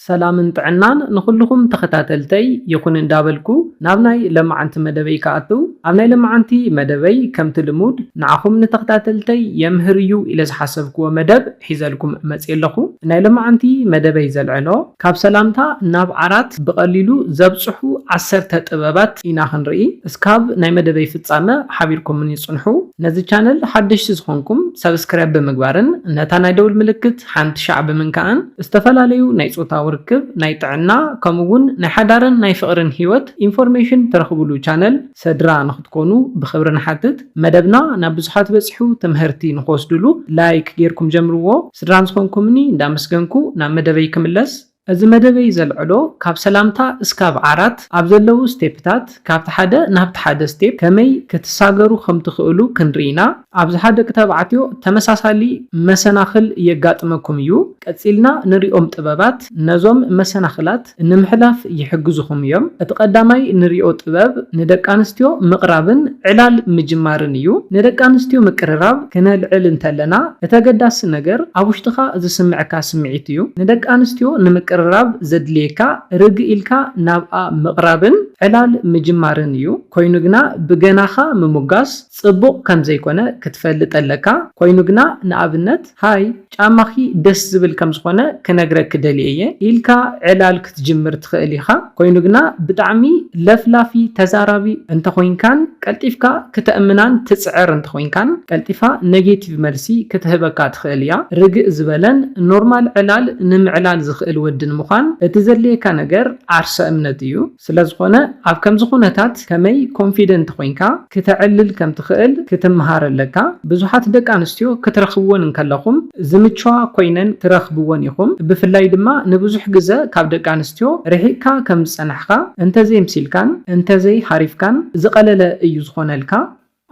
ሰላምን ጥዕናን ንኹሉኹም ተኸታተልተይ ይኹን እንዳበልኩ ናብ ናይ ለማዓንቲ መደበይ ክኣትው ኣብ ናይ ለማዓንቲ መደበይ ከምቲ ልሙድ ንዓኹም ንተኸታተልተይ የምህር እዩ ኢለ ዝሓሰብክዎ መደብ ሒዘልኩም መጽየ ኣለኹ ናይ ለማዓንቲ መደበይ ዘልዕሎ ካብ ሰላምታ ናብ ዓራት ብቀሊሉ ዘብጽሑ ዓሰርተ ጥበባት ኢና ክንርኢ እስካብ ናይ መደበይ ፍጻመ ሓቢርኩምኒ ጽንሑ ነዚ ቻነል ሓደሽቲ ዝኾንኩም ሰብስክራይብ ብምግባርን ነታ ናይ ደውል ምልክት ሓንቲ ሻዕቢ ምንካእን ዝተፈላለዩ ናይ ፆታዊ ርክብ፣ ናይ ጥዕና ከምኡ እውን ናይ ሓዳርን ናይ ፍቕርን ህይወት ኢንፎርሜሽን ትረኽብሉ ቻነል ሰድራ ንክትኮኑ ብኽብሪ ንሓትት። መደብና ናብ ብዙሓት በፂሑ ትምሀርቲ ንክወስድሉ ላይክ ገይርኩም ጀምርዎ። ስድራን ዝኾንኩምኒ እንዳመስገንኩ ናብ መደበይ ክምለስ። እዚ መደበይ ዘልዕሎ ካብ ሰላምታ እስካብ ዓራት ኣብ ዘለዉ ስቴፕታት ካብቲ ሓደ ናብቲ ሓደ ስቴፕ ከመይ ክትሳገሩ ከም ትኽእሉ ክንርኢ ኢና። ኣብዝሓ ደቂ ተባዕትዮ ተመሳሳሊ መሰናኽል የጋጥመኩም እዩ። ቀጺልና ንሪኦም ጥበባት ነዞም መሰናኽላት ንምሕላፍ ይሕግዙኹም እዮም። እቲ ቀዳማይ ንሪኦ ጥበብ ንደቂ ኣንስትዮ ምቕራብን ዕላል ምጅማርን እዩ። ንደቂ ኣንስትዮ ምቅርራብ ክነልዕል እንተለና እቲ ኣገዳሲ ነገር ኣብ ውሽጥኻ ዝስምዕካ ስምዒት እዩ። ንደቂ ኣንስትዮ ንምቅርራብ ዘድልየካ ርግእ ኢልካ ናብኣ ምቕራብን ዕላል ምጅማርን እዩ። ኮይኑ ግና ብገናኻ ምሙጋስ ጽቡቕ ከምዘይኮነ ክትፈልጥ ኣለካ። ኮይኑ ግና ንኣብነት ሃይ! ጫማኺ ደስ ዝብል ከም ዝኾነ ክነግረኪ ደልየ እየ ኢልካ ዕላል ክትጅምር ትኽእል ኢኻ። ኮይኑ ግና ብጣዕሚ ለፍላፊ፣ ተዛራቢ፣ እንተኾይንካን ቀልጢፍካ ክተእምናን ትጽዕር እንተኾይንካን ቀልጢፋ ነጌቲቭ መልሲ ክትህበካ ትኽእል እያ። ርግእ ዝበለን ኖርማል ዕላል ንምዕላል ዝኽእል ወዲ ንምዃን እቲ ዘድልየካ ነገር ዓርሰ እምነት እዩ። ስለዝኾነ ኣብ ከምዚ ኩነታት ከመይ ኮንፊደንት ኮይንካ ክተዕልል ከምትኽእል ክትምሃር ኣለካ። ብዙሓት ደቂ ኣንስትዮ ክትረኽብወን እንከለኹም ዝምችዋ ኮይነን ትረኽብወን ኢኹም። ብፍላይ ድማ ንብዙሕ ግዘ ካብ ደቂ ኣንስትዮ ርሒቕካ ከምዝፀናሕኻ፣ እንተዘይምሲልካን እንተዘይሃሪፍካን ዝቐለለ እዩ ዝኾነልካ።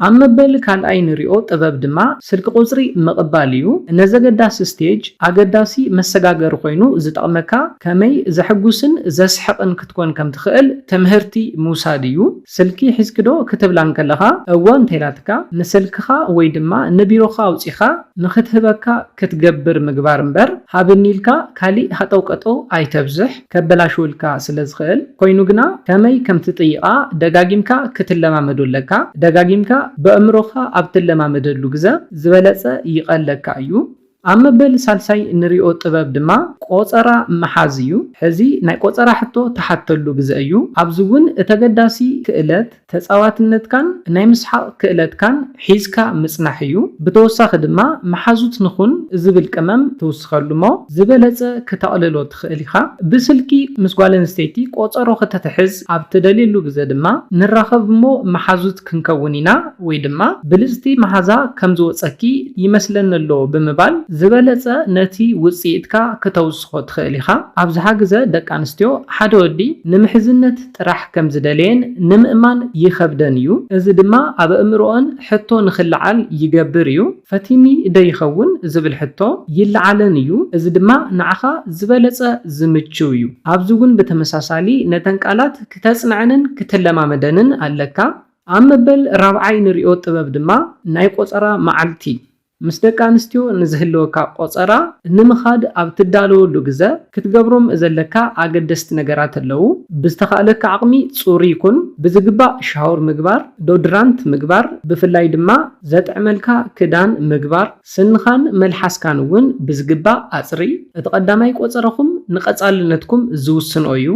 ኣብ መበል ካልኣይ ንሪኦ ጥበብ ድማ ስልኪ ቁፅሪ ምቕባል እዩ። ነዘገዳሲ ስቴጅ ኣገዳሲ መሰጋገሪ ኮይኑ ዝጠቕመካ ከመይ ዘሕጉስን ዘስሕቕን ክትኮን ከም ትኽእል ትምህርቲ ምውሳድ እዩ። ስልኪ ሒዝኪ ዶ ክትብላ እንከለኻ እወ እንተኢላትካ ንስልክኻ ወይ ድማ ንቢሮኻ ኣውፂኻ ንክትህበካ ክትገብር ምግባር እምበር ሃብኒ ኢልካ ካሊእ ሃጠውቀጠው ኣይተብዝሕ። ከበላሽውልካ ስለ ዝኽእል፣ ኮይኑ ግና ከመይ ከም ትጥይቓ ደጋጊምካ ክትለማመዶ ኣለካ። ደጋጊምካ በእምሮኻ ኣብ ትለማመደሉ ግዘ ዝበለጸ ይቐለካ እዩ። ኣብ መበል ሳልሳይ እንሪኦ ጥበብ ድማ ቆጸራ ምሓዝ እዩ። ሕዚ ናይ ቆጸራ ሕቶ ትሓተሉ ግዘ እዩ። ኣብዚ እውን እቲ ኣገዳሲ ክእለት፣ ተጻዋትነትካን ናይ ምስሓቕ ክእለትካን ሒዝካ ምጽናሕ እዩ። ብተወሳኺ ድማ መሓዙት ንኹን ዝብል ቅመም ትውስኸሉ'ሞ ዝበለጸ ክተቕልሎ ትኽእል ኢኻ። ብስልኪ ምስ ጓል ኣንስተይቲ ቆጸሮ ክተትሕዝ ኣብ ትደልየሉ ግዘ ድማ ንራኸብ'ሞ መሓዙት ክንከውን ኢና ወይ ድማ ብልጽቲ መሓዛ ከም ዝወጸኪ ይመስለኒ'ሎ ብምባል ዝበለጸ ነቲ ውጽኢትካ ክተውስኾ ትኽእል ኢኻ። ኣብዝሓ ግዘ ደቂ ኣንስትዮ ሓደ ወዲ ንምሕዝነት ጥራሕ ከም ዝደለየን ንምእማን ይኸብደን እዩ፣ እዚ ድማ ኣብ ኣእምሮኣን ሕቶ ንኽለዓል ይገብር እዩ። ፈቲኒ ዶ ይኸውን ዝብል ሕቶ ይለዓለን እዩ፣ እዚ ድማ ንዓኻ ዝበለጸ ዝምችው እዩ። ኣብዚ እውን ብተመሳሳሊ ነተን ቃላት ክተጽንዐንን ክትለማመደንን ኣለካ። ኣብ መበል ራብዓይ ንርእዮ ጥበብ ድማ ናይ ቆጸራ መዓልቲ ምስ ደቂ ኣንስትዮ ንዝህልወካ ቆጸራ ንምኻድ ኣብ ትዳለወሉ ግዘ ክትገብሮም ዘለካ ኣገደስቲ ነገራት ኣለዉ። ብዝተኻእለካ ዓቕሚ ጽሩይ ኩን፣ ብዝግባእ ሻወር ምግባር፣ ዶድራንት ምግባር፣ ብፍላይ ድማ ዘጥዕመልካ ክዳን ምግባር፣ ስንኻን መልሓስካን እውን ብዝግባእ ኣጽርይ፣ እቲ ቀዳማይ ቆጸራኹም ንቀጻልነትኩም ዝውስን'ዩ።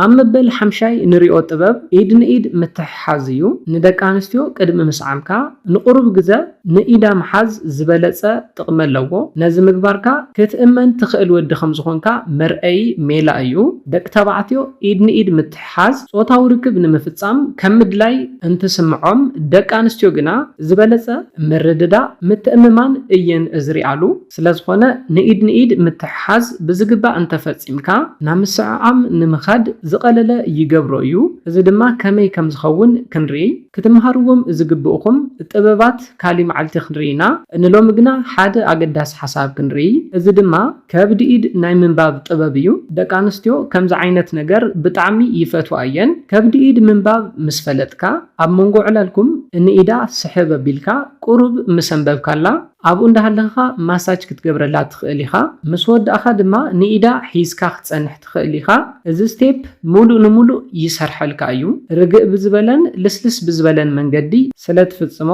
ኣብ መበል ሓምሻይ ንሪኦ ጥበብ ኢድ ንኢድ ምትሕሓዝ እዩ። ንደቂ ኣንስትዮ ቅድሚ ምስዓምካ ንቑሩብ ግዘ ንኢዳ ምሓዝ ዝበለፀ ጥቕሚ ኣለዎ። ነዚ ምግባርካ ክትእመን ትኽእል ወዲ ከምዝኾንካ መርኣዪ ሜላ እዩ። ደቂ ተባዕትዮ ኢድ ንኢድ ምትሕሓዝ ፆታዊ ርክብ ንምፍፃም ከም ምድላይ እንትስምዖም ደቂ ኣንስትዮ ግና ዝበለፀ ምርድዳእ፣ ምትእምማን እየን ዝሪኣሉ። ስለዝኾነ ንኢድ ንኢድ ምትሕሓዝ ብዝግባእ እንተፈፂምካ ናብ ምስዕዓም ንምኻድ ዝቐለለ ይገብሮ እዩ። እዚ ድማ ከመይ ከምዝኸውን ክንርኢ ክትመሃርዎም ዝግብእኹም ጥበባት ካሊእ መዓልቲ ክንርኢ ኢና። ንሎሚ ግና ሓደ ኣገዳሲ ሓሳብ ክንርኢ እዚ ድማ ከብድ ኢድ ናይ ምንባብ ጥበብ እዩ። ደቂ ኣንስትዮ ከምዚ ዓይነት ነገር ብጣዕሚ ይፈትዋ እየን። ከብድ ኢድ ምንባብ ምስ ፈለጥካ ኣብ መንጎ ዕላልኩም ንኢዳ ስሕብ ኣቢልካ ቁሩብ ምስ ኣንበብካላ፣ ኣብኡ እንዳሃለኽኻ ማሳጅ ክትገብረላ ትኽእል ኢኻ፣ ምስ ወዳእኻ ድማ ንኢዳ ሒዝካ ክትጸንሕ ትኽእል ኢኻ። እዚ ስቴፕ ሙሉእ ንሙሉእ ይሰርሐልካ እዩ። ርግእ ብዝበለን ልስልስ ብዝበለን መንገዲ ስለ ትፍጽሞ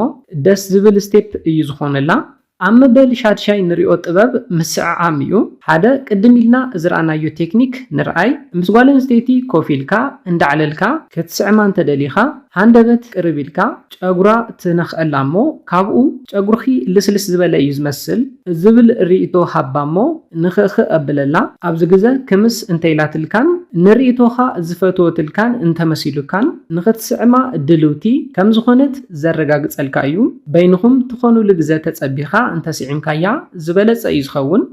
ደስ ዝብል ስቴፕ እዩ ዝኾነላ። ኣብ መበል ሻድሻይ ንሪኦ ጥበብ ምስዕዓም እዩ። ሓደ ቅድም ኢልና ዝረኣናዮ ቴክኒክ ንርኣይ። ምስ ጓል ኣንስተይቲ ኮፍ ኢልካ፣ እንዳዕለልካ፣ ክትስዕማ እንተደሊኻ፣ ሃንደበት ቅርብ ኢልካ ጨጉራ ትነኽኣላ እሞ ካብኡ ጨጉርኺ ልስልስ ዝበለ እዩ ዝመስል ዝብል ርኢቶ ሃባ እሞ ንኽእኽእ ኣብለላ። ኣብዚ ግዘ ክምስ እንተኢላትልካን ንርኢቶኻ ዝፈትወትልካን እንተመሲሉካን ንኽትስዕማ ድልውቲ ከምዝኾነት ዘረጋግፀልካ እዩ። በይንኹም ትኾኑሉ ግዘ ተፀቢኻ እንተስዒምካያ ዝበለፀ እዩ ዝኸውን።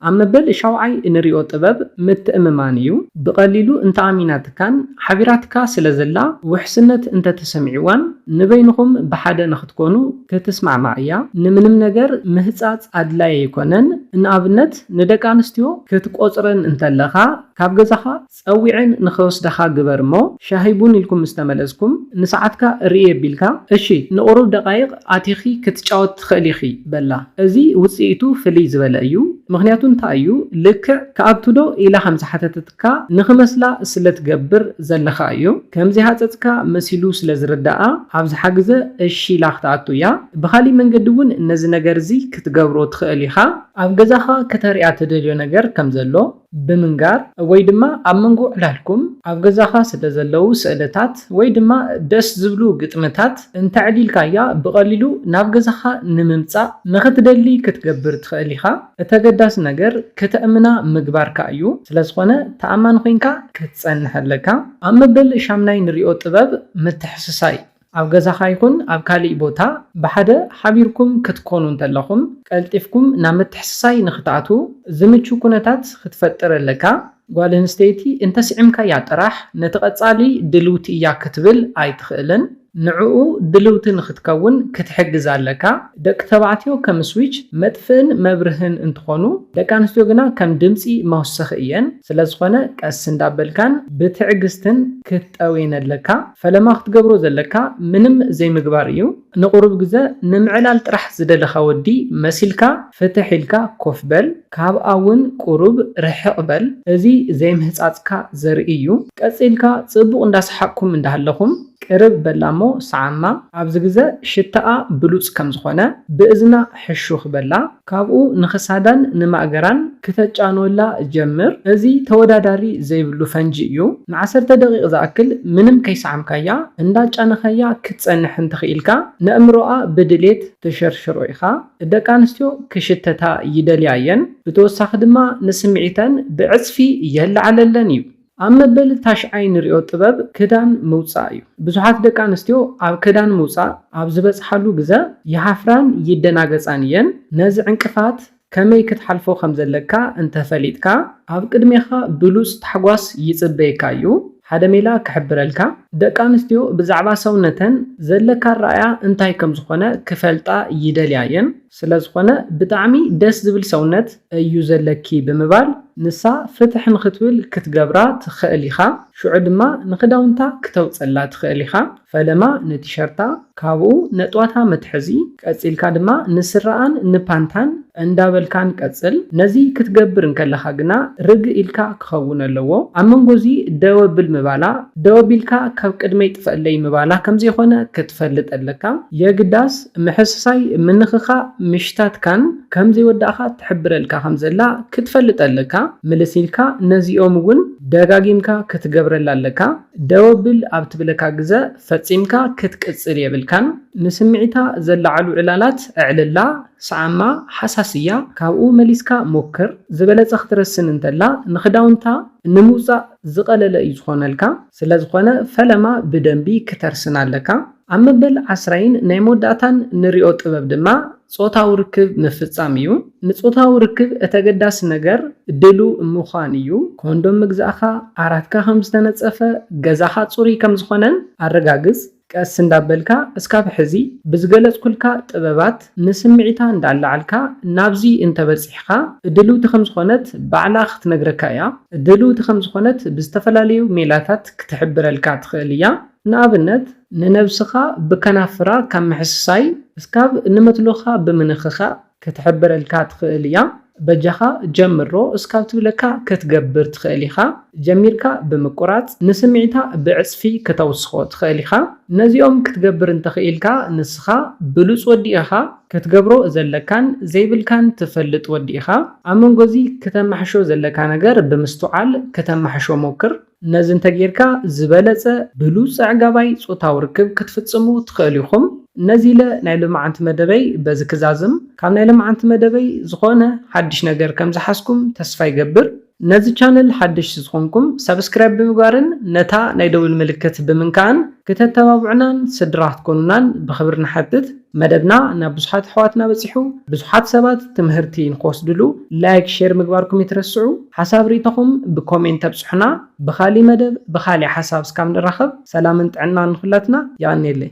ኣብ መበል ሻውዓይ እንሪኦ ጥበብ ምትእምማን እዩ። ብቐሊሉ እንተኣሚናትካን ሓቢራትካ ስለ ዘላ ውሕስነት እንተተሰሚዕዋን ንበይንኹም ብሓደ ንኽትኮኑ ክትስማዕማዕ እያ። ንምንም ነገር ምህጻጽ ኣድላይ ኣይኮነን። ንኣብነት ንደቂ ኣንስትዮ ክትቆጽረን እንተለኻ ካብ ገዛኻ፣ ጸዊዐን ንኸወስዳኻ ግበር እሞ ሻሂ ቡን ኢልኩም ምስ ተመለስኩም ንሰዓትካ ርእይ ኣቢልካ እሺ ንቑሩብ ደቓይቕ ኣቲኺ ክትጫወቲ ትኽእሊ ኢኺ በላ። እዚ ውጽኢቱ ፍልይ ዝበለ እዩ ምኽንያቱ እንታይ እዩ ልክዕ ክኣቱ ዶ ኢላ ከም ዝሓተተትካ ንኽመስላ ስለ ትገብር ዘለኻ እዩ ከም ዘይሃጸጽካ መሲሉ ስለ ዝርደኣ ኣብዝሓ ግዘ እሺ ኢላ ክትኣቱ እያ ብኻሊእ መንገዲ እውን ነዚ ነገር እዚ ክትገብሮ ትኽእል ኢኻ ኣብ ገዛኻ ከተርእያ ትደልዮ ነገር ከም ዘሎ ብምንጋር ወይ ድማ ኣብ መንጎ ዕላልኩም ኣብ ገዛኻ ስለ ዘለዉ ስእልታት ወይ ድማ ደስ ዝብሉ ግጥምታት እንተዕሊልካያ ብቐሊሉ ናብ ገዛኻ ንምምጻእ ንኽትደሊ ክትገብር ትኽእል ኢኻ። እቲ ኣገዳሲ ነገር ከተእምና ምግባርካ እዩ፣ ስለ ዝኾነ ተኣማኒ ኮይንካ ክትጸንሕ ኣለካ። ኣብ መበል ሻምናይ ንሪኦ ጥበብ ምትሕስሳይ። ኣብ ገዛኻ ይኹን ኣብ ካልእ ቦታ ብሓደ ሓቢርኩም ክትኰኑ እንተለኹም፣ ቀልጢፍኩም ናብ ምትሕስሳይ ንኽትኣትዉ ዝምቹ ኵነታት ክትፈጥር ኣለካ። ጓል ኣንስተይቲ እንተ ስዒምካያ ጥራሕ ነቲ ቐጻሊ ድልውቲ እያ ክትብል ኣይትኽእልን። ንዕኡ ድልውቲ ንኽትከውን ክትሕግዛ ኣለካ። ደቂ ተባዕትዮ ከም ስዊች፣ መጥፍእን መብርህን፣ እንትዀኑ፣ ደቂ ኣንስትዮ ግና ከም ድምጺ መወሰኺ እየን። ስለዝዀነ ቀስ እንዳበልካን ብትዕግስትን ክትጠውየን ኣለካ። ፈለማ ክትገብሮ ዘለካ ምንም ዘይምግባር እዩ ንቁሩብ ግዘ ንምዕላል ጥራሕ ዝደለካ ወዲ መሲልካ ፍትሕ ኢልካ ኮፍ በል ካብኣ ውን ቁሩብ ርሕቅ በል እዚ ዘይምህጻጽካ ዘርኢ እዩ ቀጺልካ ጽቡቅ እንዳሰሓቅኩም እንዳሃለኹም ቅርብ በላ እሞ ሰዓማ ኣብዚ ግዘ ሽታኣ ብሉጽ ከም ዝኾነ ብእዝና ሕሹኽ በላ ካብኡ ንክሳዳን ንማእገራን ክተጫንወላ ጀምር። እዚ ተወዳዳሪ ዘይብሉ ፈንጂ እዩ። ንዓሰርተ ደቒቕ ዝኣክል ምንም ከይሰዓምካያ እንዳጫነኻያ ክትጸንሕ እንተኽኢልካ ነእምሮኣ ብድሌት ትሸርሽሮ ኢኻ። ደቂ ኣንስትዮ ክሽተታ ይደልያ እየን። ብተወሳኺ ድማ ንስምዒተን ብዕጽፊ የለዓለለን እዩ። ኣብ መበል ታሽዓይ ንሪኦ ጥበብ ክዳን ምውፃእ እዩ። ብዙሓት ደቂ ኣንስትዮ ኣብ ክዳን ምውፃእ ኣብ ዝበፅሓሉ ግዘ ይሃፍራን ይደናገፃን እየን። ነዚ ዕንቅፋት ከመይ ክትሓልፎ ከምዘለካ እንተፈሊጥካ ኣብ ቅድሜኻ ብሉፅ ታሕጓስ ይፅበየካ እዩ። ሓደ ሜላ ክሕብረልካ። ደቂ ኣንስትዮ ብዛዕባ ሰውነተን ዘለካ ኣረኣእያ እንታይ ከምዝኾነ ክፈልጣ ይደልያ እየን። ስለዝኾነ ብጣዕሚ ደስ ዝብል ሰውነት እዩ ዘለኪ ብምባል ንሳ ፍትሕ ንክትብል ክትገብራ ትኸእል ኢኻ ሽዑ ድማ ንክዳውንታ ክተውፀላ ትኸእል ኢኻ ፈለማ ንቲሸርታ ካብኡ ነጥዋታ መትሐዚ ቀፂልካ ድማ ንስረኣን ንፓንታን እንዳበልካን ቀፅል ነዚ ክትገብር እንከለኻ ግና ርግ ኢልካ ክኸውን ኣለዎ ኣብ መንጎ እዚ ደው ኣብል ምባላ ደው ኣቢልካ ካብ ቅድመይ ጥፈእለይ ምባላ ከምዘይኾነ ክትፈልጥ ኣለካ የግዳስ ምሕስሳይ ምንኽኻእ ምሽታትካን ከም ዘይወዳእካ ትሕብረልካ ከም ዘላ ክትፈልጥ ኣለካ ምልስ ኢልካ ነዚኦም ውን ደጋጊምካ ክትገብረላ ኣለካ ደወብል ኣብ ትብለካ ግዘ ፈጺምካ ክትቅጽል የብልካን ንስምዒታ ዘለዓዕሉ ዕላላት ኣዕልላ ስዓማ ሃሳስ እያ ካብኡ መሊስካ ሞክር ዝበለጸ ክትረስን እንተላ ንኽዳውንታ ንምውጻእ ዝቀለለ እዩ ዝኾነልካ ስለዝኾነ ፈለማ ብደንቢ ክተርስን ኣለካ። ኣብ መበል ዓስራይን ናይ መወዳእታን ንሪኦ ጥበብ ድማ ጾታዊ ርክብ ምፍጻም እዩ። ንጾታዊ ርክብ እተገዳሲ ነገር ድሉው ምዃን እዩ። ኮንዶም ምግዛእካ፣ ዓራትካ ከም ዝተነጸፈ፣ ገዛኻ ጽሩይ ከም ዝኾነን ኣረጋግጽ። ቀስ እንዳበልካ እስካብ ሕዚ ብዝገለጽኩልካ ጥበባት ንስምዒታ እንዳኣላዓልካ ናብዚ እንተበጺሕኻ ድልውቲ ከም ዝኾነት ባዕላ ክትነግረካ እያ። ድልውቲ ከም ዝኾነት ብዝተፈላለዩ ሜላታት ክትሕብረልካ ትኽእል እያ። ንኣብነት፣ ንነብስኻ ብከናፍራ ካብ ምሕስሳይ እስካብ ንመትሎኻ ብምንኽኻእ ክትሕብረልካ ትኽእል እያ። በጃኻ ጀምሮ እስካብ ትብለካ ክትገብር ትኽእል ኢኻ። ጀሚርካ ብምቁራጽ ንስምዒታ ብዕጽፊ ክተውስኾ ትኽእል ኢኻ። ነዚኦም ክትገብር እንተኽኢልካ ንስኻ ብሉጽ ወዲ ኢኻ። ክትገብሮ ዘለካን ዘይብልካን ትፈልጥ ወዲ ኢኻ። ኣብ መንጎዚ ክተማሕሾ ዘለካ ነገር ብምስትውዓል ክተማሕሾ ሞክር። ነዚ እንተጌርካ ዝበለጸ ብሉጽ ኣዕጋባይ ጾታዊ ርክብ ክትፍጽሙ ትኸእሉ ኢኹም። ነዚ ኢለ ናይ ሎማዓንቲ መደበይ በዚ ክዛዝም። ካብ ናይ ለማዓንቲ መደበይ ዝኾነ ሓድሽ ነገር ከም ዝሓዝኩም ተስፋ ይገብር። ነዚ ቻነል ሓደሽቲ ዝኾንኩም ሳብስክራይብ ብምግባርን ነታ ናይ ደውል ምልክት ብምንካእን ክተተባብዑናን ስድራ ክትኮኑናን ብኽብሪ ንሓትት። መደብና ናብ ብዙሓት ኣሕዋትና በጺሑ ብዙሓት ሰባት ትምህርቲ ንክወስድሉ ላይክ ሼር ምግባርኩም እይትረስዑ ሓሳብ ሪኢቶኹም ብኮሜንት ኣብጹሑና ብኻሊእ መደብ ብኻሊእ ሓሳብ እስካብ ንራኸብ ሰላምን ጥዕናን ንኹላትና የቐንየለይ።